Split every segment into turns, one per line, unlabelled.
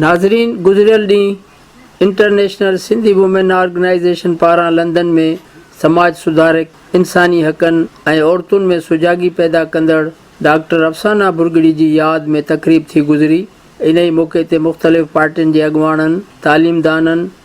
ناظرين گذريل ڏينهن انٽرنيشنل سنڌي وومين آرگنائيزيشن پاران لندن ۾ سماج سڌارڪ، انساني حقن ۽ عورتن ۾ سجاڳي پيدا ڪندڙ ڊاڪٽر افسانه ڀرڳڙي جي ياد ۾ تقريب ٿي گذري، انهي موقعي تي مختلف پارٽين جي اڳواڻن، تعليمدانن،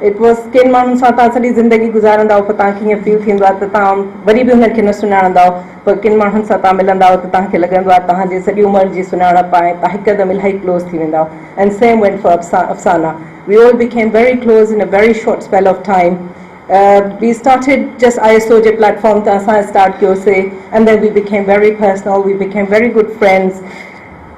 ايٽ ورس، ڪن ماڻهن سان توهان سڄي زندگي گذارندائو پر توهان کي ائين فيل ٿيندو آهي ته توهان وري به انهن کي نه سڃاڻندائو پر ڪن ماڻهن سان توهان ملندائو ته توهان کي لڳندو آهي توهان جي سڄي عمر جي سڃاڻپ آهي توهان هڪدم الاهي ڪلوز ٿي ويندائو and same went for Afsana we all became very close in a very short spell of time we started just I S O G platform تان اسان اسٽارٽ ڪيو سي and then we became very personal we became very good friends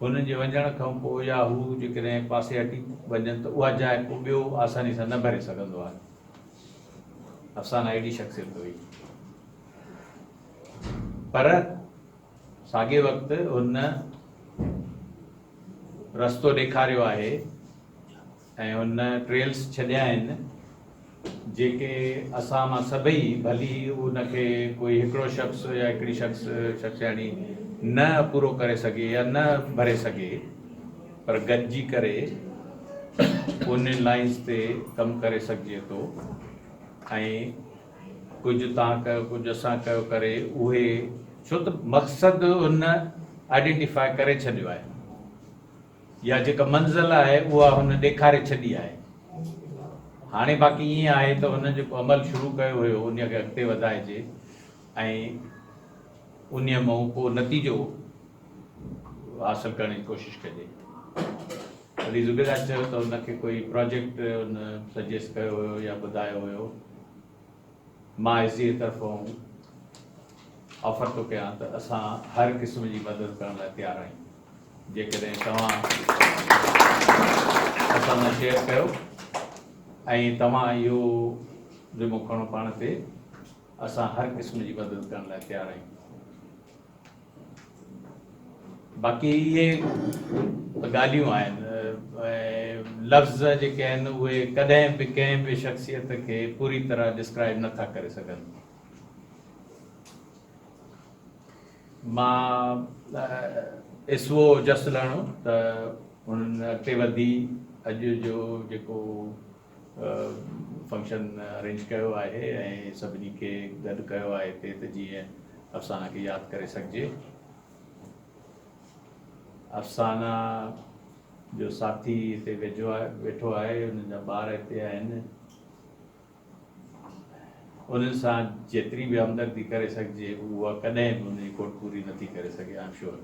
هنن جي وڃڻ کان پوء يا هو جيڪڏهن پاسي هٽي وڃن ته اها جاء ڪو ٻيو آساني سان نه ڀري سگهندو آهي. افسانه اهڙي شخصيت هئي. پر ساڳئي وقت هن رستو ڏيکاريو آهي ۽ هن ٽريلس ڇڏيا آهن جيڪي اسان مان سڀئي ڀلي ان کي ڪوئي هڪڙو شخص يا هڪڙي شخص شخصياڻي نه پورو ڪري سگهي يا نه ڀري سگهي پر گڏجي ڪري ان لائنس تي ڪم ڪري سگهجي ٿو ۽ ڪجهه تان ڪيو ڪجهه اسان ڪيو ڪري اهي ڇو ته مقصد هن آئيڊينٽيفاء ڪري ڇڏيو آهي. يا جيڪا منزل آهي اها هن ڏيکاري ڇڏي آهي. هاڻي باقي ائين آهي ته هن جيڪو عمل شروع ڪيو هيو انهيء کي اڳتي وڌائجي ۽ انهيء مئون ڪو نتيجو حاصل ڪرڻ جي ڪوشش ڪجي. علي زبيدار چيو ته هن کي ڪوئي پراجيڪٽ هن سجيسٽ ڪيو هيو يا ٻڌايو هيو. مان ايس ڊي اي طرفون آفر ٿو ڪيان ته اسان هر قسم جي مدد ڪرڻ لاء تيار آهيون جيڪڏهن توهان اسان سان شيئر ڪيو ۽ توهان اهو ذمو کڻو پاڻ تي اسان هر قسم جي مدد ڪرڻ لاء تيار آهيون باقي اهي ڳالهيون آهن ۽ لفظ جيڪي آهن اهي ڪڏهن به ڪنهن به شخصيت کي پوري طرح ڊسڪرائيب نه ٿا ڪري سگهن. مان اسوء جس لهڻو ته هنن اڳتي وڌي اڄ جو جيڪو فنڪشن ارينج ڪيو آهي ۽ سڀني کي گڏ ڪيو آهي هتي ته جيئن افسانه کي ياد ڪري سگهجي. افسانه جو ساٿي هتي ويجهو آهي ويٺو آهي انهن جا ٻار هتي آهن انهن سان جيتري به همدردي ڪري سگهجي اها ڪڏهن به ان جي کوٽ پوري نٿي ڪري سگهي آئم شور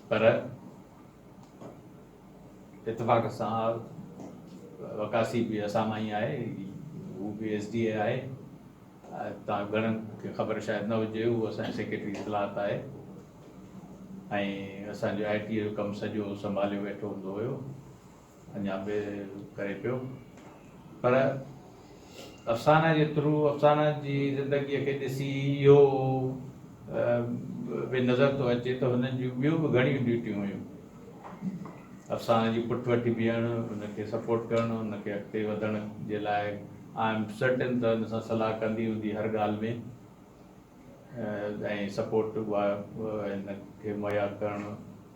پر اتفاق سان وقاسي به اسان مان ئي آهي هو به ايس ڊي اي آهي تان گهڻن کي خبر شايد نه هجي هو اسان جي سيڪريٽري اطلاعات آهي ۽ اسان جو آئي ٽي جو ڪم سڄو سنڀاليو ويٺو هوندو هيو اڃا به ڪري پيو پر افسانه جي ٿرو افسانه جي زندگي کي ڏسي اهو به نظر ٿو اچي ته هنن جون ٻيون به گهڻيون ڊيوٽيون هيون افسانه جي پٺ وٺي بيهڻ ان کي سپورٽ ڪرڻ ان کي اڳتي وڌڻ جي لاء آء ايم سرٽن ته ان سان صلاح ڪندي هوندي هر ڳالهه ۾ ۽ سپورٽ هن کي مهيا ڪرڻ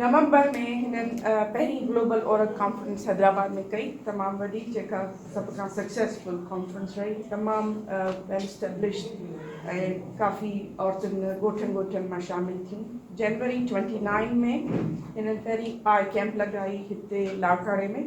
نومبر ۾ هنن پهرين گلوبل عورت ڪانفرنس حيدرآباد ۾ ڪئي، تمام وڏي جيڪا سڀ کان سڪسيسفل ڪانفرنس رهي، تمام ويل اسٽيبلشڊ ۽ ڪافي عورتن ڳوٺن ڳوٺن مان شامل ٿيون. جنوري ٽوئنٽي نائين ۾ هنن پهرين آء ڪيمپ لڳائي هتي لاڙڪاڻي ۾،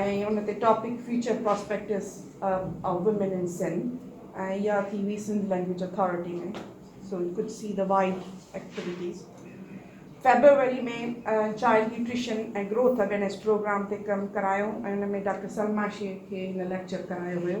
۽ ان تي topic future prospects of women in Sindh ۽ اها ٿي هئي Sindh language authority ۾ so you could see the wide activities February ۾ child nutrition ۽ growth awareness program تي ڪم ڪرايو ۽ ان ۾ ڊاڪٽر سلما شيخ کي هن ليڪچر ڪرايو هيو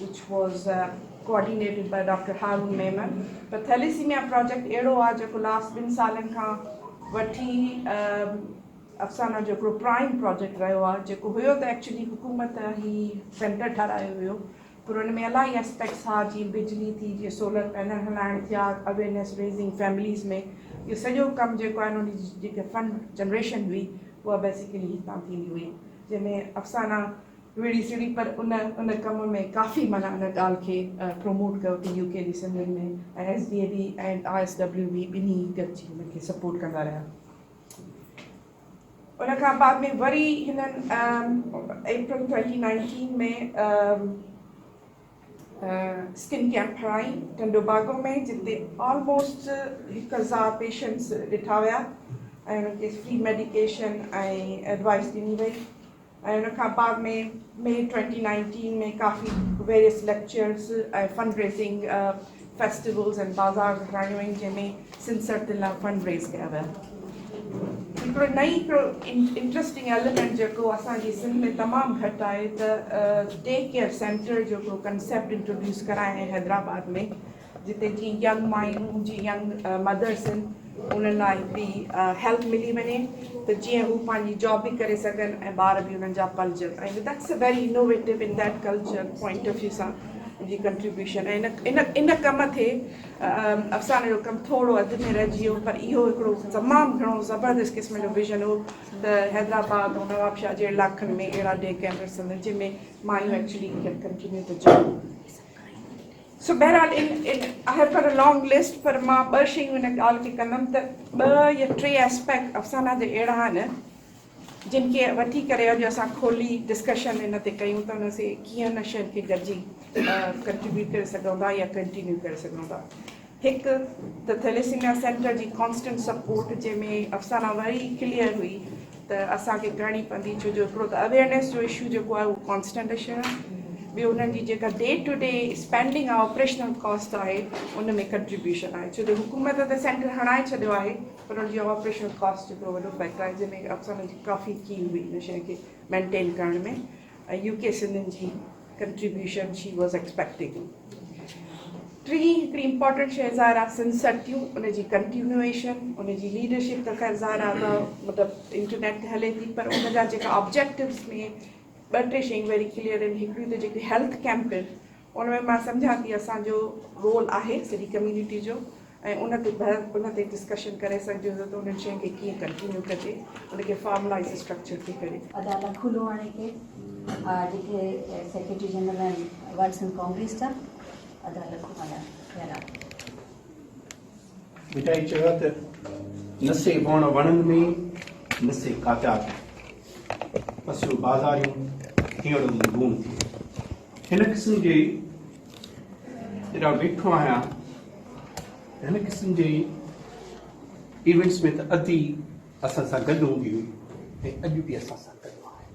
which was coordinated by doctor Haroon Memon ته ٿيليسيميا پراجيڪٽ اهڙو آهي جيڪو لاسٽ ٻن سالن کان وٺي افسانه جو هڪڙو پرائم پراجيڪٽ رهيو آهي جيڪو هيو ته ايڪچولي حڪومت هي سينٽر ٺهرايو هيو پر ان ۾ الائي اسپيڪٽس ها جيئن بجلي ٿي جيئن سولر پينل هلائڻ ٿيا اويرنيس ريزنگ فيمليز ۾ اهو سڄو ڪم جيڪو آهي ان جي جيڪي فنڊ جنريشن هئي اها بيسيڪلي هتان ٿيندي هئي جنهن ۾ افسانه ويڙهي سڙي پر ان ان ڪم ۾ ڪافي معنيٰ ان ڳالهه کي پروموٽ ڪيو ته يو ڪي جي سنڌين ۾ ۽ S D A B ۽ I S W B ٻنهي ئي گڏجي هن کي سپورٽ ڪندا رهيا ان کان بعد ۾ وري هنن April twenty nineteen ۾ skin camp هڻائين ٽنڊو باگو ۾ جتي آلموسٽ هڪ هزار پيشنٽس ڏٺا ويا ۽ انهن کي فري ميڊيڪيشن ۽ ايڊوائيس ڏني وئي ۽ ان کان بعد ۾ مئي ٽوئنٽي نائنٽين ۾ ڪافي various lectures ۽ fund raising festivals ۽ بازار ڪرايون ويون جنهن ۾ سنڌ سرتين لاء فنڊ ريز ڪيا ويا هڪڙو نئي هڪڙو انٽرسٽنگ ايليمنٽ جيڪو اسان جي سنڌ ۾ تمام گهٽ آهي ته ٽيڪ ڪيئر سينٽر جو ڪنسيپٽ انٽروڊيوس ڪرايائين حيدرآباد ۾ جتي جيئن ينگ مايون جي ينگ مدرس ان انهن لاء به هيلپ ملي وڃي ته جيئن هو پنهنجي جاب به ڪري سگهن ۽ ٻار به انهن جا پلجن ۽ that's a very innovative in that culture point of view سان جي ڪنٽريبيوشن ۽ ان ان ڪم تي افسانه جو ڪم ٿورو اڌ ۾ رهجي ويو پر اهو هڪڙو تمام گهڻو زبردست قسم جو ويژن هو ته حيدرآباد ۽ نوابشاهه جي علائقن ۾ اهڙا ڊي ڪيئر سينٽر جن ۾ مايون ايڪچولي ڪيئر ڪنٽينيو ٿو چلي سو بهرحال ان ان آء هيو پر لانگ لسٽ پر مان ٻه شيون ان ڳالهه کي ڪندم ته ٻه يا ٽي اسپيڪٽ افسانه جا اهڙا آهن جن کي وٺي ڪري اڄ اسان کولي ڊسڪشن ان تي ڪيون ته ان سي ڪيئن ان شين کي گڏجي ڪنٽريبيوٽ ڪري سگهون ٿا يا ڪنٽينيو ڪري سگهون ٿا هڪ ته ٿيليسيميا سينٽر جي ڪانسٽنٽ سپورٽ جنهن ۾ افسانه وري ڪليئر هئي ته اسان کي ڪرڻي پوندي ڇو جو هڪڙو ته اويئرنيس جو اشو جيڪو آهي اهو ڪانسٽنٽ اشو آهي ٻيو انهن جي جيڪا ڊي ٽو ڊي اسپينڊنگ آهي آپريشنل ڪاسٽ آهي ان ۾ ڪنٽريبيوشن آهي ڇو جو حڪومت ته سينٽر هڻائي ڇڏيو آهي پر ان جي آپريشنل ڪاسٽ هڪڙو وڏو فيڪٽر آهي جنهن ۾ افسرن جي ڪافي ڪيل هئي ان شيء کي مينٽين ڪرڻ ۾ ۽ يو ڪي سنڌين جي ڪنٽريبيوشن شي واز ايڪسپيڪٽنگ. ٽين هڪڙي امپارٽنٽ شي ظاهر آ سنڌ سرتيون ان جي ڪنٽينوئيشن ان جي ليڊرشپ ته خير ظاهر آ ته مطلب انٽرنيٽ تي هلي ٿي پر ان جا جيڪا آبجيڪٽوز ۾ ٻه ٽي شيون ويري ڪليئر آهن هڪڙيون ته جيڪي هيلٿ ڪيمپ آهن ان ۾ مان سمجهان ٿي اسان جو رول آهي سڄي ڪميونٽي جو ۽ ان تي بحث ان تي ڊسڪشن ڪري سگهجي ٿو ته انهن شين کي ڪيئن ڪنٽينيو ڪجي ان کي فارملائيز اسٽرڪچر ٿي ڪري. ادا لکو لوهاڻي
کي آ جيڪي سيڪريٽري جنرل آهن ورلڊ سنڌ ڪانگريس جا ادا لکو ملهاڻي خيرا.
مٺائي چيو ته نه سي وڻ وڻن ۾ نه سي ڪاٽا ٿي پسيو بازاريون هينئڙو ۾ لوڻ ٿي هن قسم جي جڏا ويٺو آهيان هن قسم جي ايونٽس ۾ ته ادي اسان سان گڏ هوندي هئي ۽ اڄ به اسان سان گڏ آهي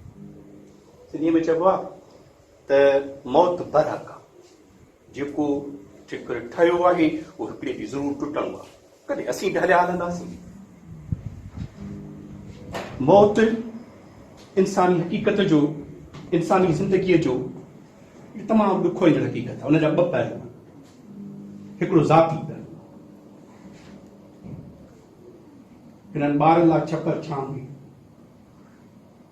سنڌي ۾ چئبو آهي ته موت برحق جيڪو ٺڪر ٺهيو آهي، اهو هڪڙي ڏينهن ضرور ٽٽڻو آهي. ڪڏهن اسين به هليا هلنداسين. موت انساني حقيقت جو، انساني زندگيء جو هڪ تمام ڏکوئيندڙ حقيقت آهي. ان جا ٻه پهلو آهن. هڪڙو ذاتي پهلو. هنن ٻارن لاء ڇپر ڇانو هئي.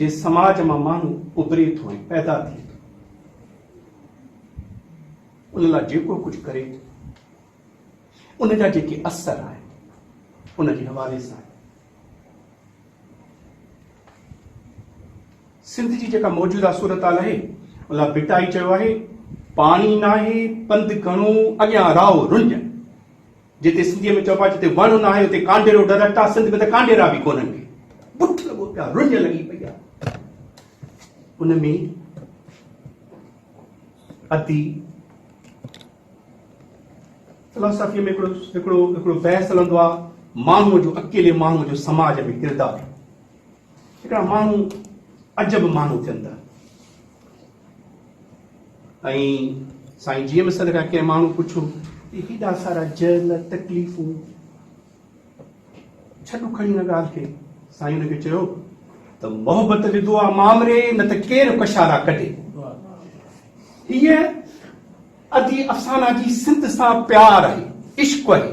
جي سماج مان ماڻهو اڀري ٿو ۽ پيدا ٿئي ٿو ان لاء جيڪو ڪجهه ڪري ٿو ان جا جيڪي اثر آهن ان جي حوالي سان سنڌ جي جيڪا موجوده صورتحال آهي ان لاء ڀٽائي چيو آهي پاڻي ناهي پنڌ گهڻو اڳيان راهو رنج جتي سنڌيء ۾ چئبو آهي جتي وڻ ناهي اتي ڪانڊيرو ڊرڪٽ آهي، سنڌ ۾ ته ڪانڊيرا به ڪونهن ڪي. بٺ لڳو پيو آهي، رڃ لڳي پئي آهي. ان ۾ ادي فلاسافيء ۾ هڪڙو هڪڙو هڪڙو بحث هلندو آهي ماڻهوء جو اڪيلي ماڻهوء جو سماج ۾ ڪردار. هڪڙا ماڻهو عجب ماڻهو ٿين ٿا. ۽ سائين جيئن به سڏ کان ڪنهن ماڻهو پڇو ته هيڏا سارا جهل تڪليفون ڇڏ کڻي هن ڳالهه کي سائين هن کي چيو ته محبت جي دعا مامري نه ته ڪير ڪشارا ڪڍي هيء ادي افسانا جي سنڌ سان پيار آهي عشق آهي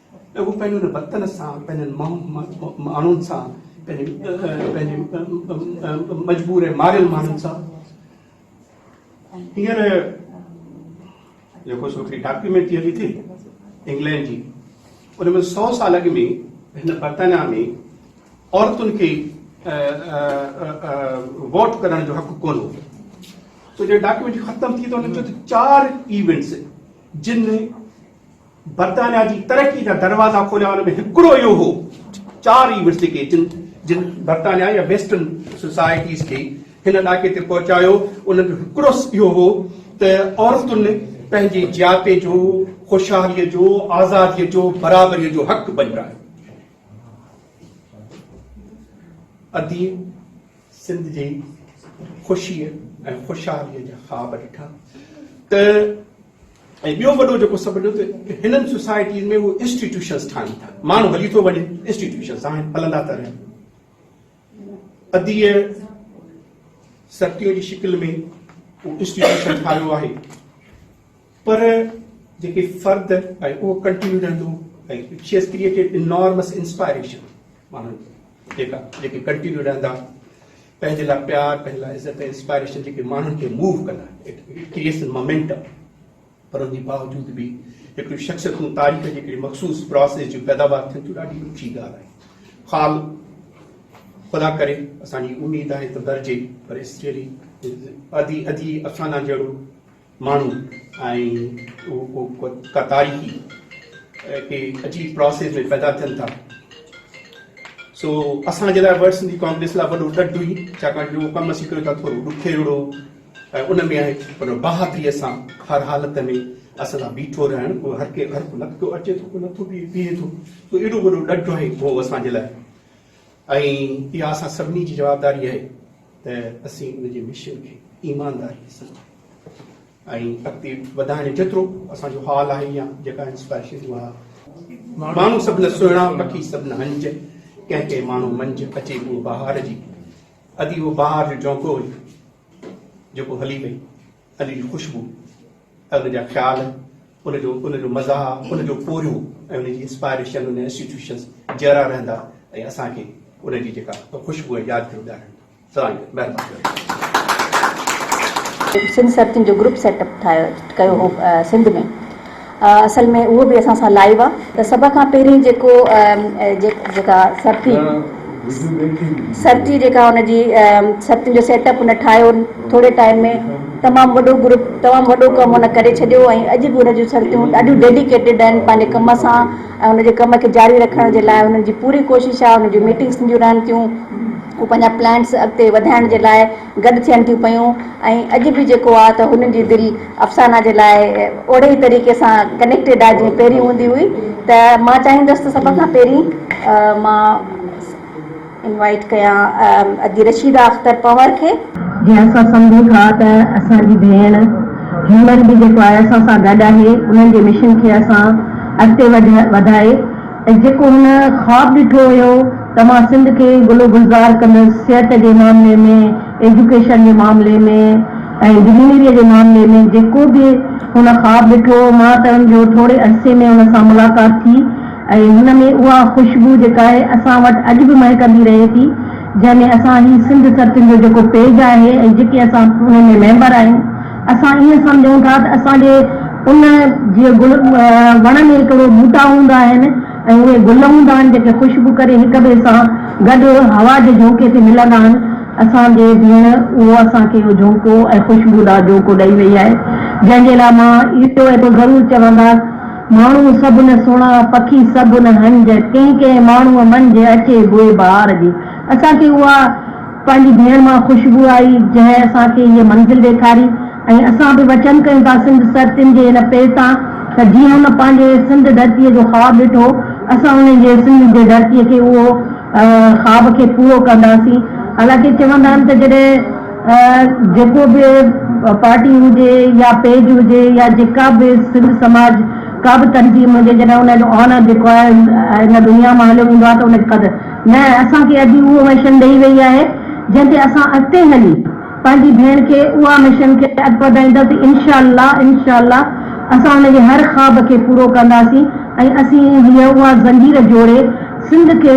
ته هو پنهنجي ان وطن سان، پنهنجن ماڻهن سان، پنهنجي مجبور ۽ ماريل ماڻهن سان هينئر جيڪو سو هڪڙي ڊاڪيومينٽ ٿي هلي ٿي انگلينڊ جي ان ۾ سؤ سال اڳ ۾ هن برطانيا ۾ عورتن کي ووٽ ڪرڻ جو حق ڪون هو سو جڏهن ڊاڪيومينٽ ختم ٿي ته هن چيو ته چار ايونٽس جن برطانيا جي ترقي جا دروازا کوليا ان ۾ هڪڙو اهو هو چار ئي ورثي کي جن جن برطانيا يا ويسٽرن سوسائٽيز کي هن ڏاڪي تي پهچايو انهن جو هڪڙو اهو هو ته عورتن پنهنجي جياتي جو خوشحالي جو آزادي جو برابري جو حق بنجايو ادي سنڌ جي خوشي ۽ خوشحالي جا خواب ڏٺا ته ۽ ٻيو وڏو جيڪو سبب ڏنو ته هنن سوسائٽين ۾ اهي انسٽيٽيوشنز ٺاهڻ ٿا ماڻهو هلي ٿو وڃي انسٽيٽيوشنز آهن هلندا ٿا رهن ادي سرتيون جي شڪل ۾ اهو انسٽيٽيوشن ٺاهيو آهي پر جيڪي فرد ۽ اهو ڪنٽينيو رهندو ۽ شي از ڪريٽيڊ انارمس انسپائريشن ماڻهن جيڪا جيڪي ڪنٽينيو رهندا پنهنجي لاء پيار پنهنجي لاء عزت ۽ انسپائريشن جيڪي ماڻهن کي موو ڪندا ڪريئيشن مومينٽم پر ان جي باوجود به هڪڙي شخصيتون تاريخ جي هڪڙي مخصوص پروسيس جون پيداوار ٿين ٿيون ڏاڍي ڏکي ڳالهه آهي خال خدا ڪري اسان جي اميد آهي ته درجي پر اسريلي ادي ادي افسانا جهڙو ماڻهو ۽ ڪا تاريخي ڪي عجيب پراسيس ۾ پيدا ٿين ٿا سو اسان جي لاء ورلڊ سنڌي ڪانگريس لاء وڏو ڏڍ هئي ڇاڪاڻ جو ڪم اسين ڪيو ٿا ٿورو ڏکيڙو ۽ ان ۾ آهي پر بهادري سان هر حالت ۾ اسان سان بيٺو رهڻ اهو هر ڪي هر ڪو نه ٿو اچي ٿو ڪو نٿو بيهي ٿو سو ايڏو وڏو ڏڍ آهي اهو اسان جي لاء ۽ اها اسان سڀني جي جوابداري آهي ته اسين ان جي مشن کي ايمانداريء سان ۽ اڳتي وڌائڻ جيترو اسان جو حال آهي يا جيڪا انسپائريشن جو اها ماڻهو سڀني سهڻا پکي سڀني هنج ڪنهن ڪنهن ماڻهو منجهه اچي اهو بهار جي ادي اهو بهار جو جهونڪو هيو جيڪو هلي ويو اڄ جي خوشبو ۽ ان جا خيال، ان جو ان جو مزاح، ان جو پورهيو ۽ ان جي انسپائريشن ان انسٽيٽيوشنز جيئرا رهندا ۽ اسان کي ان جي جيڪا خوشبو ۽ يادگيرون ڏيارين ٿا. سلام جي مهرباني.
سنڌ سرتين جو گروپ سيٽ اپ ٺاهيو ڪيو هو سنڌ ۾. اصل ۾ اهو به اسان سان لائيو آ ته سڀ کان پهرين جيڪو جيڪا سرتي سرتي جيڪا ان جي سرتين جو سيٽ اپ ان ٺاهيو ٿوري ٽائيم ۾ تمام وڏو گروپ تمام وڏو ڪم ان ڪري ڇڏيو ۽ اڄ به ان جون سرتيون ڏاڍيون ڊيڊيڪيٽيڊ آهن پنهنجي ڪم سان ۽ ان جي ڪم کي جاري رکڻ جي لاء انهن جي پوري ڪوشش آ ان جون ميٽنگس ٿينديون رهن ٿيون هو پنهنجا پلانس اڳتي وڌائڻ جي لاء گڏ ٿين ٿيون پيون ۽ اڄ به جيڪو آ ته هن جي دل افسانه جي لاء اوڙي ئي طريقي سان ڪنيڪٽيڊ آ جيئن پهرين هوندي هئي ته مان چاهيندس ته سڀ کان پهرين مان انوائيٽ ڪيان ادي رشيده اختر پنهور کي. جيئن اسان سمجهون
ٿا ته اسان جي ڀيڻ هيمن به جيڪو آء ايس او سان گڏ آهي انهن جي مشن کي اسان اڳتي وڌائي ۽ جيڪو هن خواب ڏٺو هيو ته مان سنڌ کي گل و گلزار ڪندس صحت جي معاملي ۾ ايجوڪيشن جي معاملي ۾ ۽ گرينريء جي معاملي ۾ جيڪو به هن خواب ڏٺو هو مان ته ان جو ٿوري عرصي ۾ ان سان ملاقات ٿي ۽ هن ۾ اها خوشبو جيڪا آهي اسان وٽ اڄ به مهڪندي رهي ٿي جنهن ۾ اسان هي سنڌ سرتين جو جيڪو پيج آهي ۽ جيڪي اسان انهن ۾ ميمبر آهيون اسان ائين سمجهون ٿا ته اسان جي ان جي گل وڻ ۾ هڪڙو ٻوٽا هوندا آهن ۽ اهي گل هوندا آهن جيڪي خوشبو ڪري هڪ ٻئي سان گڏ هوا جي جهونڪي تي ملندا آهن. اسان جي ڀيڻ اهو اسان کي اهو جهونڪو ۽ خوشبودار جهونڪو ڏئي وئي آهي جنهن جي لاء مان اهو ايترو ضرور چونداس ماڻهو سڀ نه سهڻا پکي سڀ نه هنج ڪنهن ڪنهن ماڻهو منجهه اچي بوء بهار جي اسان کي اها پنهنجي ڀيڻ مان خوشبو آئي، جنهن اسان کي هيء منزل ڏيکاري ۽ اسان به وچن ڪيون ٿا سنڌ سرتين جي هن پير تان ته جيئن هن پنهنجي سنڌ ڌرتيء جو خواب ڏٺو، اسان انهن جي سنڌ جي ڌرتيء کي اهو خواب کي پورو ڪنداسين. حالانڪه چوندا آهن ته جڏهن جيڪو به پارٽي هجي يا پيج هجي يا جيڪا به سنڌ سماج ڪا به تنظيم هجي جڏهن ان جو آنر جيڪو آهي هن دنيا مان هليو ويندو آهي ته ان کي قدر نه اسان کي اڄ اهو مشن ڏئي وئي آهي جنهن تي اسان اڳتي هلي پنهنجي ڀيڻ کي اها مشن کي اڳ وڌائينداسين انشاء الله انشاء الله اسان هن جي هر خواب کي پورو ڪنداسين ۽ اسين هي اها زنجير جوڙي سنڌ کي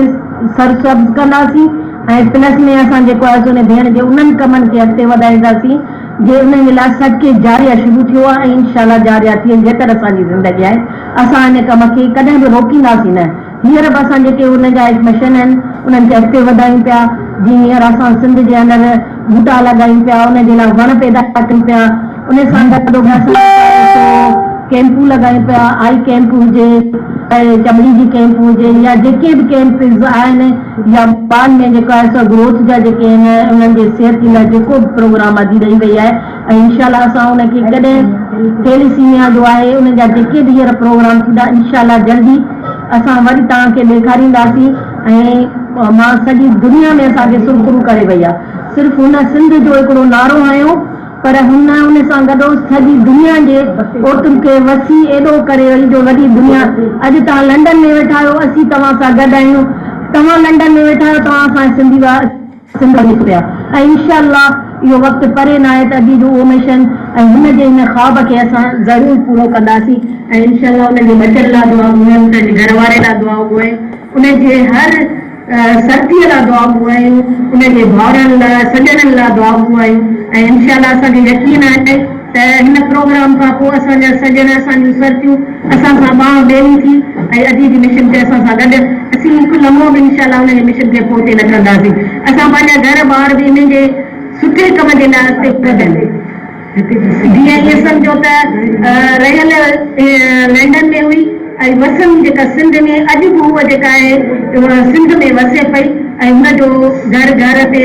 سرسبز ڪنداسين ۽ پلس ۾ اسان جيڪو آهي سو هن ڀيڻ جي انهن ڪمن کي اڳتي وڌائينداسين جي انهن جي لاء صدقه جاريه شروع ٿيو آهي ۽ انشاء الله جاريه ٿيندي جيتر اسان جي زندگي آهي اسان هن ڪم کي ڪڏهن به روڪينداسين نه. هينئر به اسان جيڪي ان جا مشن آهن انهن کي اڳتي وڌايون پيا جيئن هينئر اسان سنڌ جي اندر ٻوٽا لڳايون پيا ان جي لاء وڻ پيدا ڪريون پيا ان سان گڏوگڏ اسان چاهيون سو ڪئمپون
لڳايون پيا آئي ڪئمپ هجي چمڙي جي ڪئمپ هجي يا جيڪي به ڪئمپز آهن يا ٻارن ۾ جيڪو آهي سو گروٿ جا جيڪي آهن انهن جي صحت جي لاء جيڪو به پروگرام اڄ ڏئي وئي آهي ۽ انشاء الله اسان ان کي ڪڏهن ٿيليسيميا جو آهي ان جا جيڪي به هينئر پروگرام ٿيندا انشاء الله جلدي اسان وري توهان کي ڏيکارينداسين ۽ مان سڄي دنيا ۾ اسان کي سرخرو ڪري وئي آهي صرف هن سنڌ جو هڪڙو نعرو هنيو پر هن ان سان گڏو سڄي دنيا جي عورتن کي وسيع ايڏو ڪري وئي جو وڏي دنيا اڄ توهان لنڊن ۾ ويٺا آهيو اسين توهان سان گڏ آهيون توهان لنڊن ۾ ويٺا آهيو توهان اسان جي سنڌي سنڌ ۾ ٿيا ۽ انشاء الله اهو وقت پري ناهي ته اڄ جو اهو مشن ۽ هن جي هن خواب کي اسان ضرور پورو ڪنداسين ۽ انشاء الله انهن جي ٻچن لاء دعا گهرون ۽ انهن جي گهر واري لاء دعائون گهرون انهن جي هر سرتيء لاء دعائون گهرون انهن جي ڀائرن لاء سڄڻن لاء دعائون گهرون ۽ انشاء الله اسان کي يقين آهي ته هن پروگرام کان پوء اسان جا سڄڻ، اسان جون سرتيون اسان سان ٻانهن ٻيلي ٿي ۽ اڄ جي مشن تي اسان سان گڏ اسين هڪ لمحو به انشاء الله ان جي مشن کي پوئتي نه ڪنداسين. اسان پنهنجا گهر ٻار به انهن جي سٺي ڪم جي لاء اڳتي ڪڍيل هئي. جي ائين سمجهو ته رهيل لنڊن ۾ هئي ۽ وسن جيڪا سنڌ ۾ اڄ به هوء جيڪا آهي سنڌ ۾ وسي پئي ۽ هن جو گهر گهر تي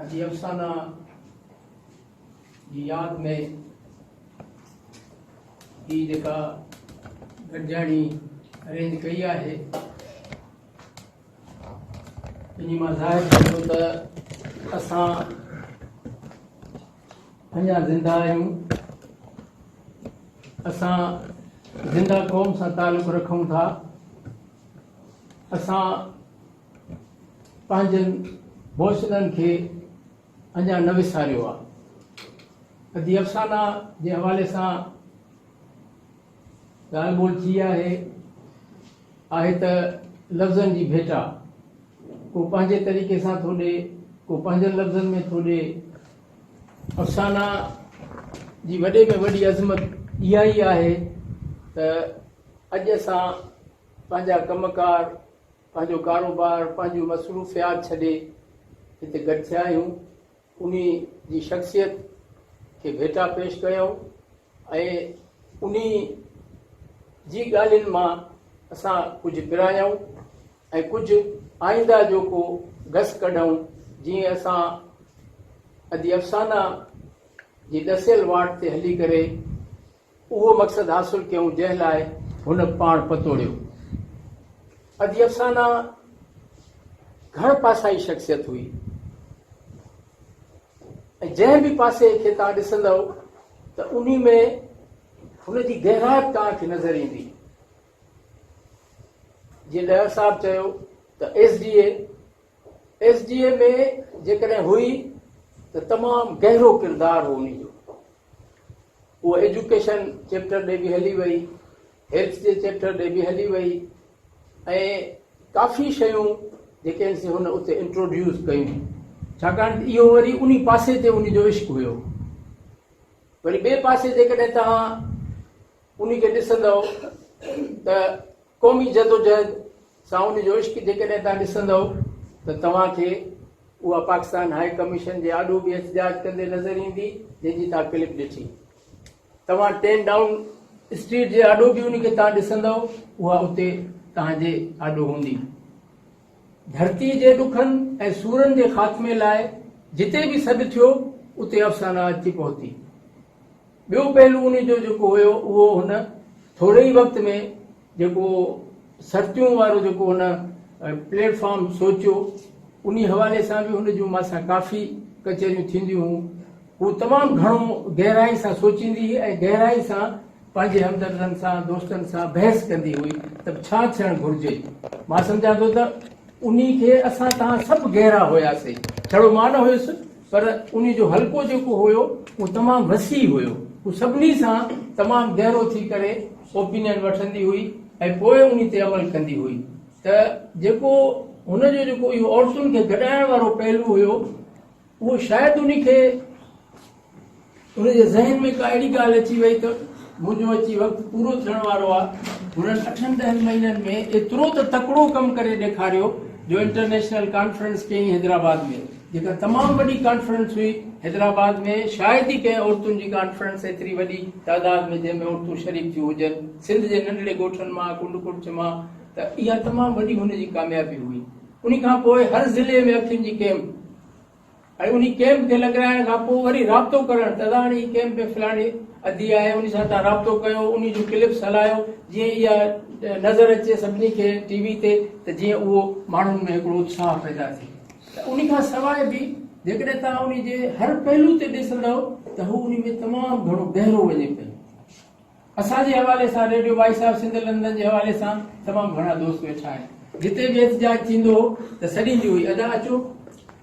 اڄ افسانه جي ياد ۾ هي جيڪا گڏجاڻي ارينج ڪئي آهي ان مان ظاهر ٿئي ٿو ته اسان اڃا زنده آهيون اسان زنده قوم سان تعلق رکون ٿا اسان پنهنجن حوصلن کي اڃا نه وساريو آهي. ادي افسانا جي حوالي سان ڳالهه ٻولهه ٿي آهي. آهي ته لفظن جي ڀيٽا. ڪو پنهنجي طريقي سان ٿو ڏي، ڪو پنهنجن لفظن ۾ ٿو ڏي. افسانا جي وڏي ۾ وڏي عظمت اها ئي آهي ته اڄ اسان پنهنجا ڪم ڪار پنهنجو ڪاروبار، پنهنجون مصروفيات ڇڏي هتي گڏ ٿيا آهيون. انهي جي شخصيت کي ڀيٽا پيش ڪيائون ۽ انهي جي ڳالهين مان اسان ڪجهه پرايائون ۽ ڪجهه آئينده جو ڪو گس ڪڍئون جيئن اسان ادي افسانه جي ڏسيل واٽ تي هلي ڪري اهو مقصد حاصل ڪيون جنهن لاء هن پاڻ پتوڙيو. ادي افسانه گهڻ پاسائي شخصيت هئي ۽ جنهن به پاسي کي توهان ڏسندؤ ته انهي ۾ هن جي گهرائپ توهان کي نظر ايندي. جيئن ڏهر صاحب چيو ته S D A S D A ۾ جيڪڏهن هئي ته تمام گهرو ڪردار هو انهي جو هوء ايجوڪيشن چيپٽر ڏي به هلي وئي، هيلٿ جي چيپٽر ڏي به هلي وئي ۽ ڪافي شيون جيڪي آهن سي هن اتي انٽروڊيوس ڪيون. ڇاڪاڻ ته اهو وري انهي پاسي تي هن جو عشق هيو. وري ٻئي پاسي جيڪڏهن توهان انهي کي ڏسندؤ ته قومي جدوجهد سان ان جو عشق جيڪڏهن توهان ڏسندؤ ته توهان کي اها پاڪستان هاء ڪميشن جي آڏو به احتجاج ڪندي نظر ايندي جنهن جي توهان ڪلپ ڏٺي. توهان ٽين ڊائون اسٽريٽ جي آڏو به انهي کي توهان ڏسندؤ اها اتي توهان جي آڏو هوندي. ڌرتي جي ڏکن ۽ سورن جي خاتمي لاء جتي به سڏ ٿيو اتي افسانا اچي پهتي. ٻيو پهلو انهي جو جيڪو هيو اهو هن ٿوري ئي وقت ۾ جيڪو سرتيون وارو جيڪو هن پليٽ فارم سوچيو انهي حوالي سان به هن جون مان سان ڪافي ڪچهريون ٿينديون هون. هو تمام گهڻو گهرائي سان سوچيندي هئي ۽ گهرائي سان پنهنجي همدردن سان، دوستن سان بحث ڪندي هئي ته به ڇا ٿيڻ گهرجي. مان سمجهان ٿو ته انهي کي اسان توهان سڀ گهرا هياسي. ڇڙو مان نه هيس پر انهي جو حلقو جيڪو هيو اهو تمام وسيع هيو. هو سڀني سان تمام گهرو ٿي ڪري اوپينين وٺندي هئي ۽ پوء انهي تي عمل ڪندي هئي ته جيڪو هن جو جيڪو اهو عورتن کي گڏائڻ وارو پهلو هيو، اهو شايد انهي کي انهن جي ذهن ۾ ڪا اهڙي ڳالهه اچي وئي ته منهنجو اچي وقت پورو ٿيڻ وارو آ، هنن اٺن ڏهن مهينن ۾ ايترو ته تڪڙو ڪم ڪري ڏيکاريو جو انٽرنيشنل ڪانفرنس ڪيئين حيدرآباد ۾ جيڪا تمام وڏي ڪانفرنس هئي، حيدرآباد ۾ شايد ئي ڪنهن عورتن جي ڪانفرنس ايتري وڏي تعداد ۾ جنهن ۾ عورتون شريڪ ٿيون هجن سنڌ جي ننڍڙي ڳوٺن مان ڪنڊڪڙڇ مان ته اها تمام وڏي هن جي ڪاميابي هئي. انهي کان پوء هر ضلعي ۾ اکين جي ڪئمپ ۽ انهي ڪئمپ کي لڳرائڻ کان پوء وري رابطو ڪرڻ ته هاڻي هي ڪئمپ ۾ فلاڻي ادي آهي انهي سان توهان رابطو ڪيو انهي جون ڪلپس هلايو جيئن اها نظر اچي سڀني کي ٽي وي تي ته جيئن اهو ماڻهن ۾ هڪڙو اتساهه پيدا ٿئي ته انهي کان سواء به جيڪڏهن توهان انهي جي هر پهلو تي ڏسندؤ ته هو انهي ۾ تمام گهڻو گهرو وڃي پيو. اسان جي حوالي سان radio voice of Sindh London جي حوالي سان تمام گهڻا دوست ويٺا آهن جتي به احتجاج ٿيندو هو ته سڏيندي هئي ادا اچو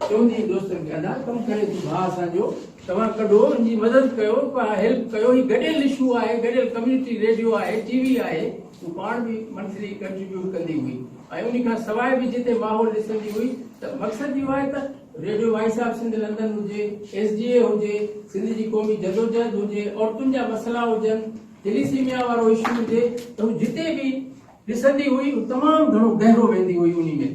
چوندي هئي دوستن کي ادا ڪم ڪري ٿي ڀاء اسان جو توهان ڪڍو ان جي مدد ڪيو هيلپ ڪيو هي گڏيل اشو آهي گڏيل ڪميونٽي ريڊيو آهي ٽي وي آهي هو پاڻ به منٿلي ڪنٽريبيوٽ ڪندي هئي ۽ ان کان سواء به جتي ماحول ڏسندي هئي ته مقصد اهو آهي ته radio voice of Sindh London هجي، ايس ڊي اي هجي، سنڌ جي قومي جدوجهد هجي، عورتن جا مسئلا هجن، ٿيليسيميا وارو اشو هجي ته هو جتي به ڏسندي هئي هو تمام گهڻو گهرو ويندي هئي انهي ۾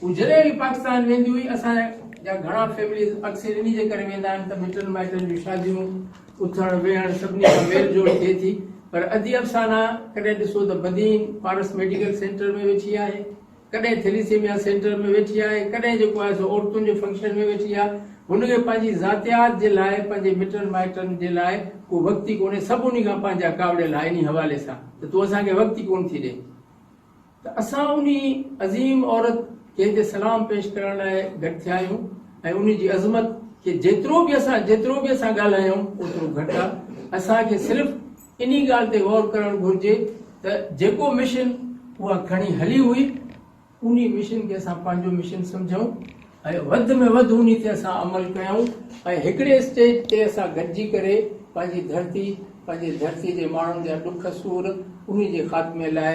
هو جڏهن به پاڪستان ويندي هئي اسان جا گهڻا فيمليز اڪثر انهي جي ڪري ويندا آهن ته مٽن مائٽن جون شاديون اٿڻ ويهڻ سڀني سان ميل جول ٿئي ٿي پر ادي افسانه ڪڏهن ڏسو ته بدين پارس ميڊيڪل سينٽر ۾ ويٺي آهي ڪڏهن ٿيليسيميا سينٽر ۾ ويٺي آهي، ڪڏهن جيڪو آهي سو عورتن جي فنڪشن ۾ ويٺي آهي. هن کي پنهنجي ذاتيات جي لاء، پنهنجي مٽن مائٽن جي لاء ڪو وقت ئي ڪونهي. سڀ انهي کان پنهنجا ڪاوڙيل آهن انهي حوالي سان ته تون اسان کي وقت ئي ڪونه ٿي ڏئين. ته اسان انهي عظيم عورت جنهن تي سلام پيش ڪرڻ لاء گڏ ٿيا آهيون ۽ انهي جي عظمت کي جيترو به اسان جيترو به اسان ڳالهايون اوترو گهٽ آهي. اسان کي صرف انهي ڳالهه تي غور ڪرڻ گهرجي ته جيڪو مشن اها کڻي هلي هئي، انهي مشن کي اسان پنهنجو مشن سمجهون ۽ وڌ ۾ وڌ انهي تي اسان عمل ڪيون ۽ هڪڙي اسٽيج تي اسان گڏجي ڪري پنهنجي ڌرتي، پنهنجي ڌرتي جي ماڻهن جا ڏک سور، انهي جي خاتمي لاء.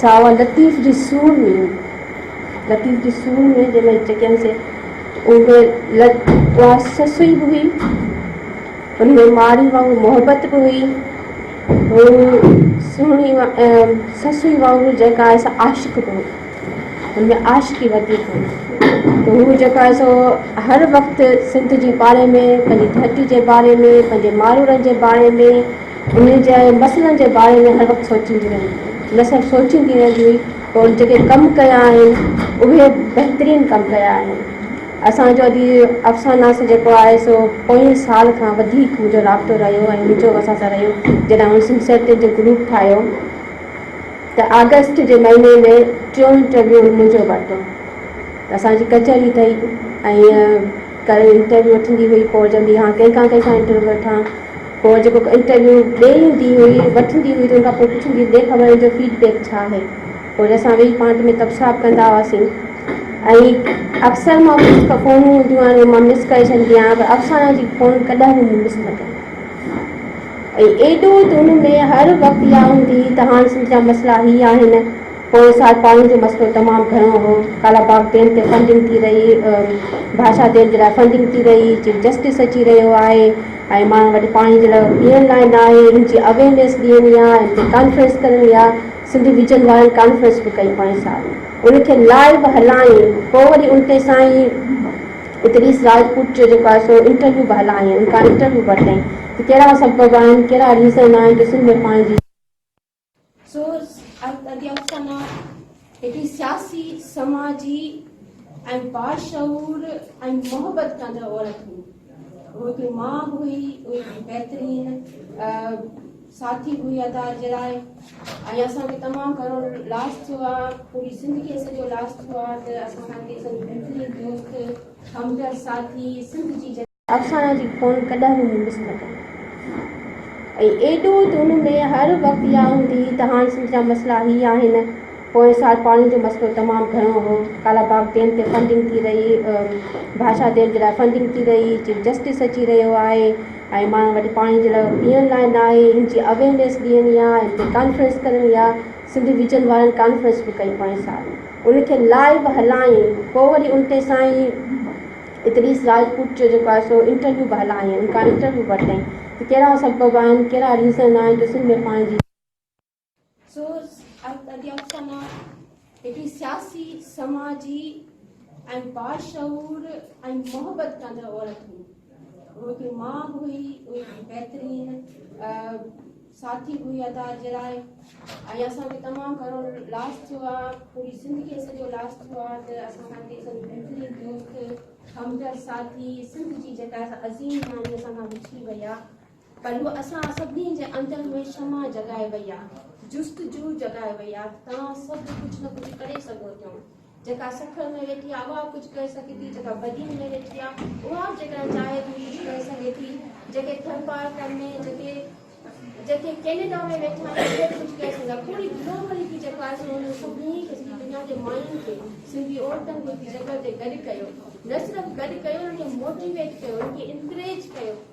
ساوا لطيف جي سور ۾، لطيف جي سور ۾ جنهن مهل چڪيم سي اهي لد اها سسئي به هئي، ان ۾ ماري وانگر محبت به هئي، هو سهڻي سسئي وانگر جيڪا آهي سا عاشق به هئي، ان ۾ عاشقي وڌيڪ هئي ته هو جيڪا آهي سو هر وقت سنڌ جي باري ۾ پنهنجي ڌرتي جي باري ۾ پنهنجي مارورن جي باري ۾. انهن جي مسئلن جي باري ۾ هر وقت سوچيندي رهندي هئي، نه صرف سوچيندي رهندي هئي پر ان جيڪي ڪم ڪيا آهن اهي بهترين ڪم ڪيا آهن. اسان جو اڄ افسانا سان جيڪو آهي سو پوئين سال کان وڌيڪ منهنجو رابطو رهيو ۽ منهنجو اسان سان رهيو جڏهن آئون سنسيرٽين جو گروپ ٺاهيو ته آگسٽ جي مهيني ۾ ٽيون انٽرويو منهنجو ورتو ته اسان جي ڪچهري ٿي ۽ ڪري انٽرويو وٺندي هئي پوء چوندي ها ڪنهن کان ڪنهن کان انٽرويو وٺان پوء جيڪو انٽرويو ڏئي ايندي هئي وٺندي هئي ته ان کان پوء پڇندي ڏي خبر ان جو فيڊ بيڪ ڇا آهي پوء وري اسان ويهي پانت ۾ تبصرا به ڪندا هئاسين ۽
اڪثر مان مس ته فونون هونديون آهن اهي مان مس ڪري ڇڏندي آهيان پر افسانه جي فون ڪڏهن به مون مس نه ڪئي ۽ ايڏو ته ان ۾ هر وقت اها هوندي هئي ته هاڻ سنڌ جا مسئلا هي آهن پوء سال پاڻي جو مسئلو تمام گهڻو هو، ڪالا باغ ڊيم تي فنڊنگ ٿي رهي، ڀاشا ڊيم جي لاء فنڊنگ ٿي رهي، چيف جسٽس اچي رهيو آهي ۽ ماڻهن وٽ پاڻي جي لاء پيئڻ لاء نه آهي، ان جي اويئرنيس ڏيڻي آهي ۽ ان تي ڪانفرنس ڪرڻي آهي، سنڌ ويجن وارن ڪانفرنس به ڪئي پوئين سال ان کي لائيو هلايائين، پوء وري ان تي سائين ادريس راجپوت جو جيڪو آهي سو انٽرويو به هلايائين، ان کان انٽرويو به ورتائين ته ڪهڙا سبب آهن، ڪهڙا ريزن آهن جو سنڌ ۾ پاڻي جي سو ادي افسانه هڪڙي سياسي، سماجي ۽ باشعور ۽ محبت ڪندڙ عورت هئي. هو هڪڙي ماء هئي، هو هڪڙي بهترين ساٿي هئي ادا جي لاء ۽ اسان کي تمام گهڻو لاس ٿيو آهي، پوري سنڌ کي اسان جو لاس ٿيو آهي ته اسان کان هڪڙي بهترين دوست، همدرد ساٿي سنڌ جي افسانه جي خون ڪڏهن به مون مس نه ڪئي ۽ ايڏو ته ان ۾ هر وقت اها هوندي هئي ته هاڻ سنڌ جا مسئلا هي آهن، پوئين سال پاڻي جو مسئلو تمام گهڻو هو، ڪالا باغ ڊيم تي فنڊنگ ٿي رهي، ڀاشا ڊيم جي لاء فنڊنگ ٿي رهي، چيف جسٽس اچي رهيو آهي ۽ ماڻهن وٽ پاڻي جي لاء پيئڻ لاء نه آهي، هن جي اويئرنيس ڏيڻي آهي، هن تي ڪانفرنس ڪرڻي آهي، سنڌ ويجن وارن ڪانفرنس به ڪئي پوئين سال ان کي لائيو هلائين، پوء وري ان تي سائين ادريس راجپوت جو جيڪو آهي سو انٽرويو به هلائين ان کان انٽرويو به وٺين ته ڪهڙا سبب آهن ڪهڙا ريزن آهن جو سنڌ ۾ پاڻي جي سوز ادي افسانه هڪڙي سياسي سماجي ۽ باشعور ۽ محبت ڪندڙ عورت هئي هوء هڪڙي ماء به هئي هوء هڪڙي بهترين ساٿي هئي ادا جراء ۽ اسان کي تمام گهڻو لاس ٿيو آ پوري سنڌ کي سڄو لاس ٿيو آ ته اسان کان ڪي سن بهترين دوست همدرد ساٿي سنڌ جي جيڪا عظيم نياڻي اسان کان وڇڙي وئي آ پر هو اسان سڀني جي اندر ۾ شمع جڳائي وئي آ جست جو جڳائي وئي آ توهان سڀ ڪجهه نه ڪجهه ڪري سگهو ٿيون جيڪا سکڻ ۾ ويٺي آ اها ڪجهه ڪري سگهي ٿي، جيڪا بدين ۾ ويٺي آ اها به جيڪڏهن چاهي ٿي ڪجهه ڪري سگهي ٿي، جيڪي ٿر پارڪن ۾ جيڪي جيڪي ڪينيڊا ۾ ويٺا آهن اهي به ڪجهه ڪري سگهن ٿا پوري گلوبلي ٿي جيڪا آهي سو هن سڀني کي سڄي دنيا جي ماين کي سنڌي عورتن کي جيڪا هتي گڏ ڪيو نه صرف گڏ ڪيو انهن کي موٽيويٽ ڪيو انهن کي انڪريج ڪيو.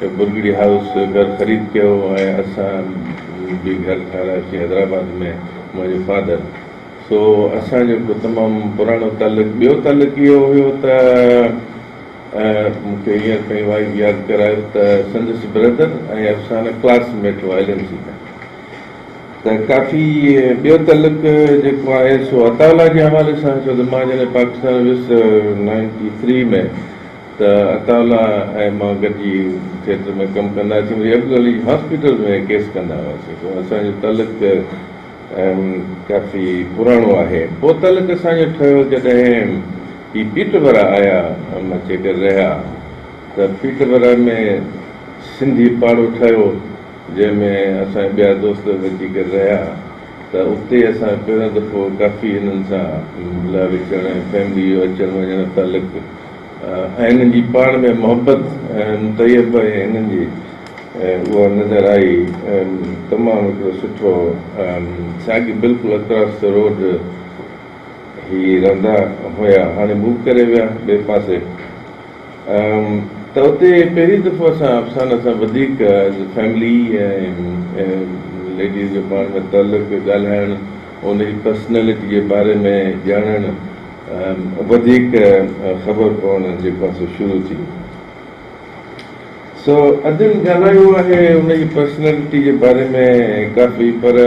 برگڙي هائوس گهر خريد ڪيو ۽ اسان به گهر ٺهرايوسين حيدرآباد ۾ منهنجي فادر سو اسان جو هڪ تمام پراڻو تعلق ٻيو تعلق اهو هيو ته مون کي هينئر پئي وائز ياد ڪرايو ته سندس برادر ۽ افسانه ڪلاس ميٽ هئا ايل اين سي ۾ ته ڪافي ٻيو تعلق جيڪو آهي سو عطاء الله جي حوالي سان ڇو ته مان جڏهن پاڪستان ويس نائنٽي ٿري ۾ ته اٽالا ۽ مان گڏجي ٿيٽر ۾ ڪم ڪندا هئاسين، وري عبدو علي جي هاسپيٽل ۾ ڪيس ڪندا هئاسين، سو اسان جو تعلق ڪافي پراڻو آهي. پوء تعلق اسان جو ٺهيو جڏهن هي پيٽربرا آيا ۽ اچي ڪري رهيا ته پيٽربرا ۾ سنڌي پاڙو ٺهيو جنهن ۾ اسان جا ٻيا دوست به اچي ڪري رهيا ته اتي اسان پهريون دفعو ڪافي انهن سان ملاوي ٿيڻ ۽ فيملي جو اچڻ وڃڻ تعلق ۽ انهن جي پاڻ ۾ محبت ۽ طيب ۽ انهن جي اها نظر آئي تمام هڪڙو سٺو ساڳي بلڪل اڪراس دي روڊ هي رهندا هيا هاڻي موو ڪري ويا ٻئي پاسي ته اتي پهرين دفعو اسان افسانه سان وڌيڪ ايز اي فيملي ۽ ليڊيز جو پاڻ ۾ تعلق ڳالهائڻ ان جي پرسنالٽي جي باري ۾ ڄاڻڻ وڌيڪ خبر پوڻ جي پاسو شروع ٿي سو ادين ڳالهايو آهي ان جي پرسنالٽي جي باري ۾ ڪافي پر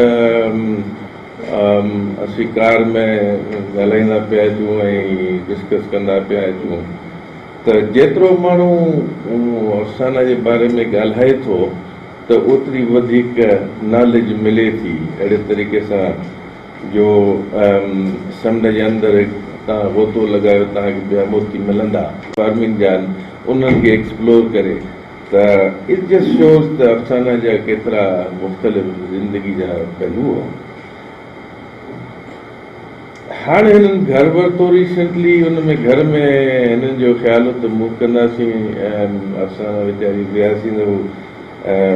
اسين ڪار ۾ ڳالهائيندا پيا اچون ۽ ڊسڪس ڪندا پيا اچون ته جيترو ماڻهو افسانه جي باري ۾ ڳالهائي ٿو ته اوتري وڌيڪ ناليج ملي ٿي اهڙي طريقي سان جو سمنڊ جي اندر تان غوطو لڳايو تان هڪ ٻيا موتي ملندا. فارمنگ جان انهن کي ايڪسپلور ڪري ته اٽ جسٽ شوز ته افسانه جا ڪيترا مختلف زندگي جا پهلو هئا. هاڻ هنن گهر ورتو ريسنٽلي ان ۾ گهر ۾ هنن جو خيال هو ته مون ڪنداسين ۽ افسانه ويچاري ضياسين هو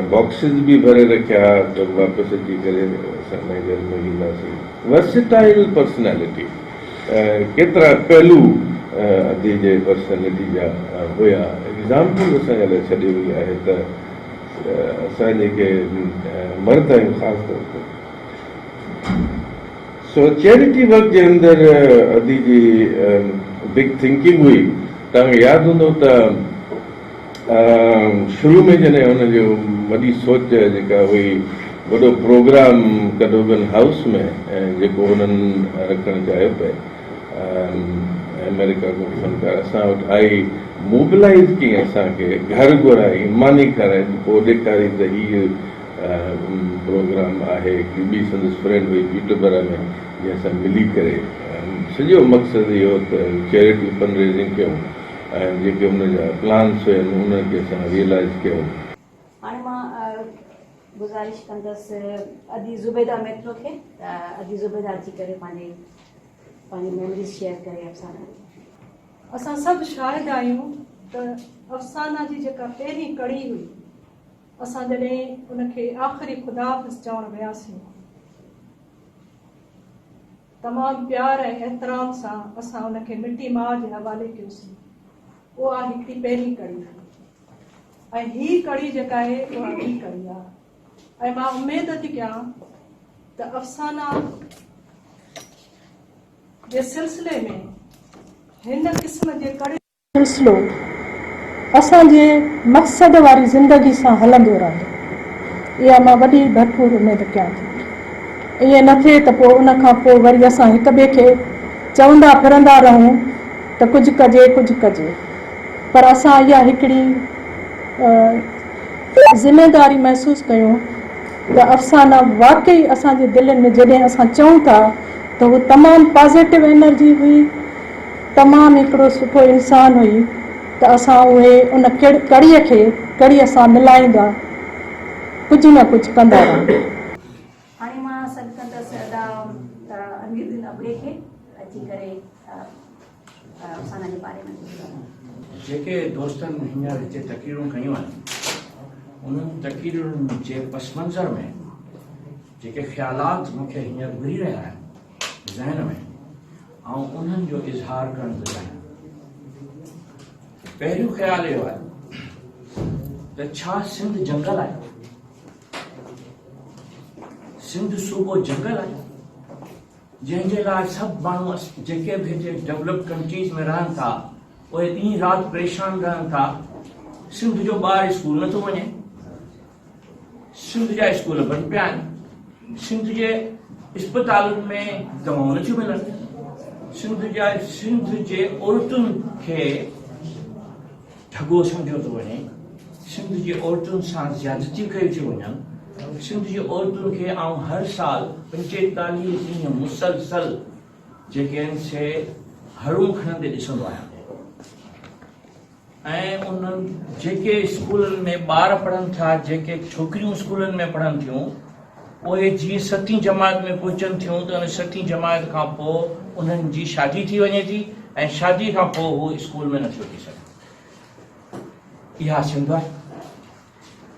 باڪسز به ڀري رکيا ها ته واپس اچي ڪري اسان انهيء گهر ۾ وينداسين. ورسيٽائيل پرسنالٽي ڪيترا پهلو ادي جي پرسنالٽي جا هيا. ايگزامپل اسان لاء ڇڏي وئي آهي ته اسان جيڪي مرد آهيون خاص طور تي سو چيريٽي ورڪ جي اندر ادي جي بگ ٿنڪنگ هئي. توهان کي ياد هوندو ته. شروع ۾ جڏهن هن جو وڏي سوچ جيڪا هئي وڏو پروگرام ڪئڊوگن هائوس ۾ ۽ جيڪو هنن رکڻ چاهيو پئي آمريڪا ڪو فنڪار اسان وٽ آئي موبلائيز ڪيئي اسان کي گهر گهرائي ماني کارائي ته پوء ڏيکاري ته هيء پروگرام آهي هڪڙي ٻي سندس فرينڊ هئي پيٽربرا ۾ جنهن سان ملي ڪري سڄو مقصد اهو ته چيريٽي فنڊريزنگ ڪيون ۽ جيڪي ان جا پلانس هيا انهن
کي اسان ريئلائز ڪيو. هاڻي مان گذارش ڪندس ادي زبيده ميترو کي ته ادي زبيده اچي ڪري پنهنجي پنهنجي ميمريز شيئر ڪري افسانه جي. اسان سڀ شاهد
آهيون ته افسانه جي جيڪا پهرين ڪڙي هئي اسان جڏهن ان کي آخري خداحافظ چوڻ وياسين. تمام پيار ۽ احترام سان اسان ان کي مٽي ماء جي حوالي ڪيوسين. اها هڪڙي پهرين ڪڙي هئي ۽ هي ڪڙي جيڪا اهي اها ٻي ڪڙي آ ۽ مان اميد ٿي ڪيان ته افسانا جي سلسلي ۾ هن قسم جي ڪڙي سلسلو
اسان جي مقصد واري زندگي سان هلندو رهندو اها مان وڏي ڀرپور اميد ڪيان ٿي. ائين نه ٿئي ته پوء ان کان پوء وري اسان هڪ ٻئي کي چوندا ڦرندا رهون ته ڪجهه ڪجي ڪجهه ڪجي پر اسان اها هڪڙي ذميداري محسوس ڪيون ته افسانا واقعي اسان جي دلين ۾ جڏهن اسان چئون ٿا ته هو تمام پازيٽو انرجي هئي تمام هڪڙو سٺو انسان هئي ته اسان اهي ان ڪڙي کي ڪڙي سان ملائيندا ڪجهه نه ڪجهه ڪندا رهون. هاڻي مان سڏ ڪندس ادا امير الدين ابڙي کي اچي
ڪري افسانه جي باري ۾ ڪجهه چون. جيڪي
دوستن هينئر هتي تقريرون ڪيون آهن انهن تقريرن جي پس منظر ۾ جيڪي خيالات مون کي هينئر گهري رهيا آهن ذهن ۾ آئون انهن جو اظهار ڪرڻ ٿو چاهيان. پهريون خيال اهو آهي ته ڇا سنڌ جنگل آهي؟ سنڌ صوبو جنگل آهي؟ جنهن جي لاء سڀ ماڻهو جيڪي به هتي ڊيولپ ڪنٽريز ۾ رهن ٿا اهي ڏينهن رات پريشان رهن ٿا سنڌ جو ٻار اسڪول نٿو وڃي سنڌ جا اسڪول بند پيا آهن، سنڌ جي اسپتالن ۾ دوائون نه ٿيون ملن، سنڌ جا سنڌ جي عورتن کي ڍڳو سمجهيو ٿو وڃي، سنڌ جي عورتن سان زيادتيون ڪيون ٿيون وڃن، سنڌ جي عورتن کي آئون هر سال پنجيتاليهه ڏينهن مسلسل جيڪي آهن سي هرون کڻندي ڏسندو آهيان. ۽ انهن جيڪي اسڪولن ۾ ٻار پڙهن ٿا جيڪي ڇوڪريون اسڪولن ۾ پڙهن ٿيون اهي جيئن ستين جماعت ۾ پهچن ٿيون ته ان ستين جماعت کان پوء انهن جي شادي ٿي وڃي ٿي ۽ شادي کان پوء هو اسڪول ۾ نٿيو ٿي سگهن اها سنڌ آهي.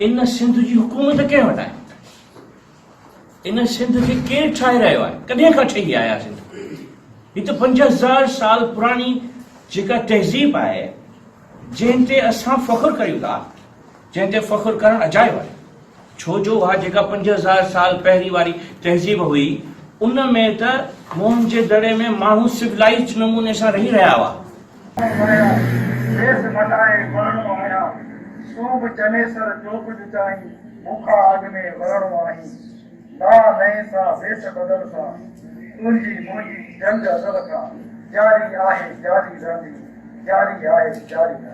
ان سنڌ جي حڪومت ڪنهن وٽ آهي؟ ان سنڌ کي ڪير ٺاهي رهيو آهي؟ ڪڏهن کان ٺهي آهي اها سنڌ؟ هي ته پنج هزار سال پراڻي جيڪا تهذيب آهي، جنهن تي اسان فخر ڪريون ٿا، جنهن تي فخر ڪرڻ اجايو آهي. ڇو جو اها جيڪا پنج هزار سال پهرين واري تهذيب هئي، ان ۾ ته موهن جي دڙي ۾ ماڻهو سولائيزڊ نموني سان رهي رهيا هئا. ويا کيس مٽائي مرڻو آهيان سو
به چنيسر جو ڪجهه چاهين مون کان اڳ ۾ مرڻو آهين نا نئين سا ويس بدل سا تنهنجي منهنجي جنگ ازل کان جاري آهي جاري رهندي جاري آهي جاري رهندي.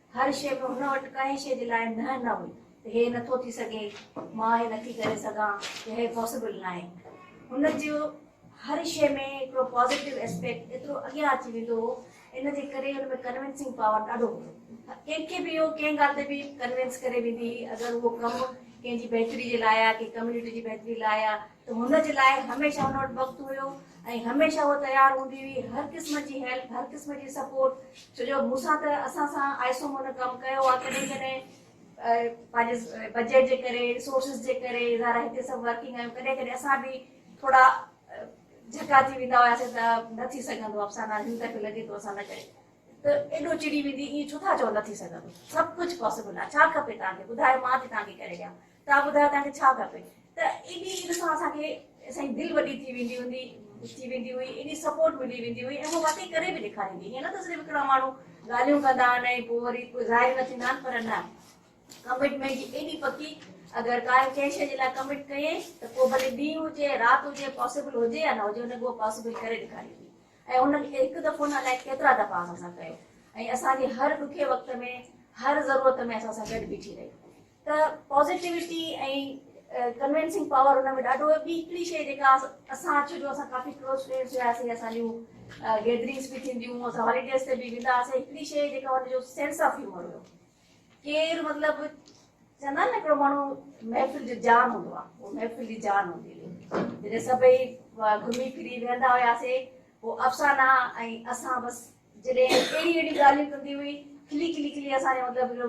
هر شيء ۾ هن وٽ ڪنهن شيء جي لاء نهن نه هئي ته هي نه ٿو ٿي سگهي، مان هي نه ٿي ڪري سگهان يا هي پاسيبل ناهي. هن جو هر شيء ۾ هڪڙو پازيٽو اسپيڪٽ ايترو اڳيان اچي ويندو هو، ان جي ڪري هن ۾ ڪنوينسنگ پاور ڏاڍو هوندو هو. ڪنهن کي به هو ڪنهن ڳالهه تي به ڪنوينس ڪري ويندي هئي، اگر اهو ڪم ڪنهن جي بهتري جي لاء آ، ڪنهن ڪميونٽي جي بهتري لاء آ ته هن جي لاء هميشه هن وٽ وقت هيو ۽ هميشه هوء تيار هوندي هئي هر قسم جي هيلپ هر قسم جي سپورٽ ڇو جو مون سان ته اسان سان آء ايس او هن ڪم ڪيو آهي ڪڏهن ڪڏهن پنهنجي بجيٽ جي ڪري ريسورسز جي ڪري ظاهر آهي هتي سڀ ورڪنگ آهيون ڪڏهن ڪڏهن اسان به ٿورا جهڪا ٿي ويندا هياسين ته نه ٿي سگهندو افسانه هن دفعي لڳي ٿو اسان نه ڪري ته ايڏو چڙي ويندي ائين ڇو ٿا چئو نه ٿي سگهندو سڀ ڪجهه پاسبل آهي ڇا کپي توهان کي ٻڌايو مان ٿي توهان کي ڪري ڏيان تان ٻڌايو تان کي ڇا کپي ته انهي عيد سان اسان کي سائين دل وڏي ٿي ويندي هوندي ٿي ويندي هئي انهي سپورٽ ملي ويندي هئي ۽ هو واقعي ڪري به ڏيکاريندي هئي نه ته صرف هڪڙا ماڻهو ڳالهيون ڪندا آهن ۽ پوء وري ڪو ظاهر نه ٿيندا آهن پر نه ڪمٽمينٽ جي ايڏي پڪي اگر ڪا ڪنهن شيء جي لاء ڪمٽ ڪيئين ته پوء ڀلي ڏينهن هجي رات هجي پاسبل هجي يا نه هجي هن اهو پاسبل ڪري ڏيکاريندي ۽ هن هڪ دفعو نه الائي ڪيترا دفعا اسان سان ڪيو ۽ اسان جي هر ڏکي وقت ۾ هر ضرورت ۾ اسان سان گڏ بيٺي رهي ته پازيٽيوٽي ۽ ڪنوينسنگ پاور ان ۾ ڏاڍو هي. ٻي هڪڙي شيء جيڪا اسان ڇو جو اسان ڪافي ڪلوز فرينڊز هياسين اسان جون گيدرنگز به ٿينديون هيون اسان هاليڊيز تي به ويندا هئاسين هڪڙي شيء جيڪا هن جو سينس آف هيومر هيو ڪير مطلب چوندا آهن نه هڪڙو ماڻهو محفل جو جان هوندو آهي اهو محفل جي جان هوندي هئي جڏهن سڀئي گهمي ڦري ويهندا هياسين پوء افسانه ۽ اسان بس جڏهن اهڙي اهڙي ڳالهيون ڪندي هئي، کلي کلي کلي اسان جو مطلب جو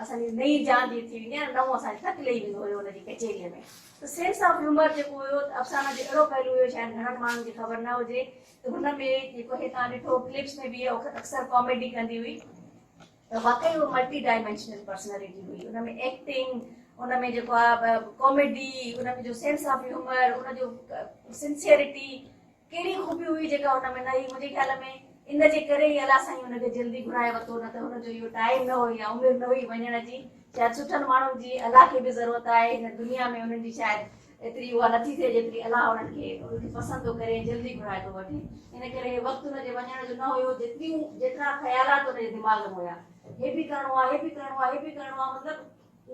اسان جي نئين جان جي ٿي ويندي ها نه نئون اسان کي ٽڪ لهي ويندو هيو ان جي ڪچهريء ۾ ته سينس آف هيومر جيڪو هيو ته افسانه جو اهڙو پهلو هيو شايد گهڻن ماڻهن کي خبر نه هجي ته هن ۾ جيڪو هي تان ڏٺو ڪلپس ۾ به اهي اڪثر ڪاميڊي ڪندي هئي ته واقعي هو ملٽي ڊائمينشنل پرسنالٽي هئي ان ۾ ايڪٽنگ ان ۾ جيڪو آهي ڪاميڊي ان ۾ جو سينس آف هيومر ان جو سنسيئرٽي ڪهڙي خوبي هئي جيڪا ان ۾ نه هئي؟ منهنجي خيال ۾ ان جي ڪري ئي الله سائين ان کي جلدي گهرائي ورتو نه ته هن جو اهو ٽائيم نه هو يا عمر نه هئي وڃڻ جي. شايد سٺن ماڻهن جي الله کي به ضرورت آهي هن دنيا ۾ انهن جي شايد ايتري اها نه ٿي ٿئي جيتري الله انهن کي انهن کي پسند ٿو ڪري ۽ جلدي گهرائي ٿو وٺي ان ڪري هي وقت ان جي وڃڻ جو نه هيو جيتريون جيترا خيالات ان جي دماغ ۾ هيا هي به ڪرڻو آهي هي به ڪرڻو آهي هي به ڪرڻو آهي مطلب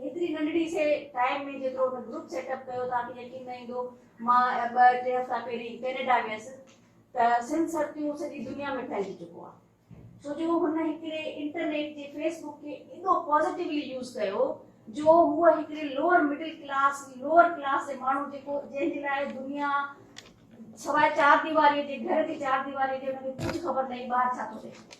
هيتري ننڍڙي سي ٽائيم ۾ جيترو ان گروپ سيٽ اپ ڪيو توهان کي يقين نه ايندو مان ٻه ٽي هفتا پهرين ڪينيڊا ويس ته سنڌ سر تيون سڄي دنيا ۾ ڦهلجي چڪو آ ڇو جو هن هڪڙي انٽرنيٽ جي فيس بڪ کي ايڏو پازيٽويلي يوز ڪيو جو هو هڪڙي lower middle class lower class جي ماڻهو جيڪو جنهن جي لاء دنيا سواء چار ديواري جي گهر جي چار ديواري جي ان کي ڪجهه خبر نه هئي ٻاهر ڇا ٿو ٿئي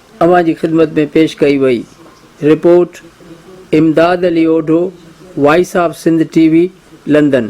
اوهان جي خدمت ۾ پيش ڪئي وئي. Report, Imdad Ali Odho, voice of Sindh T V, London.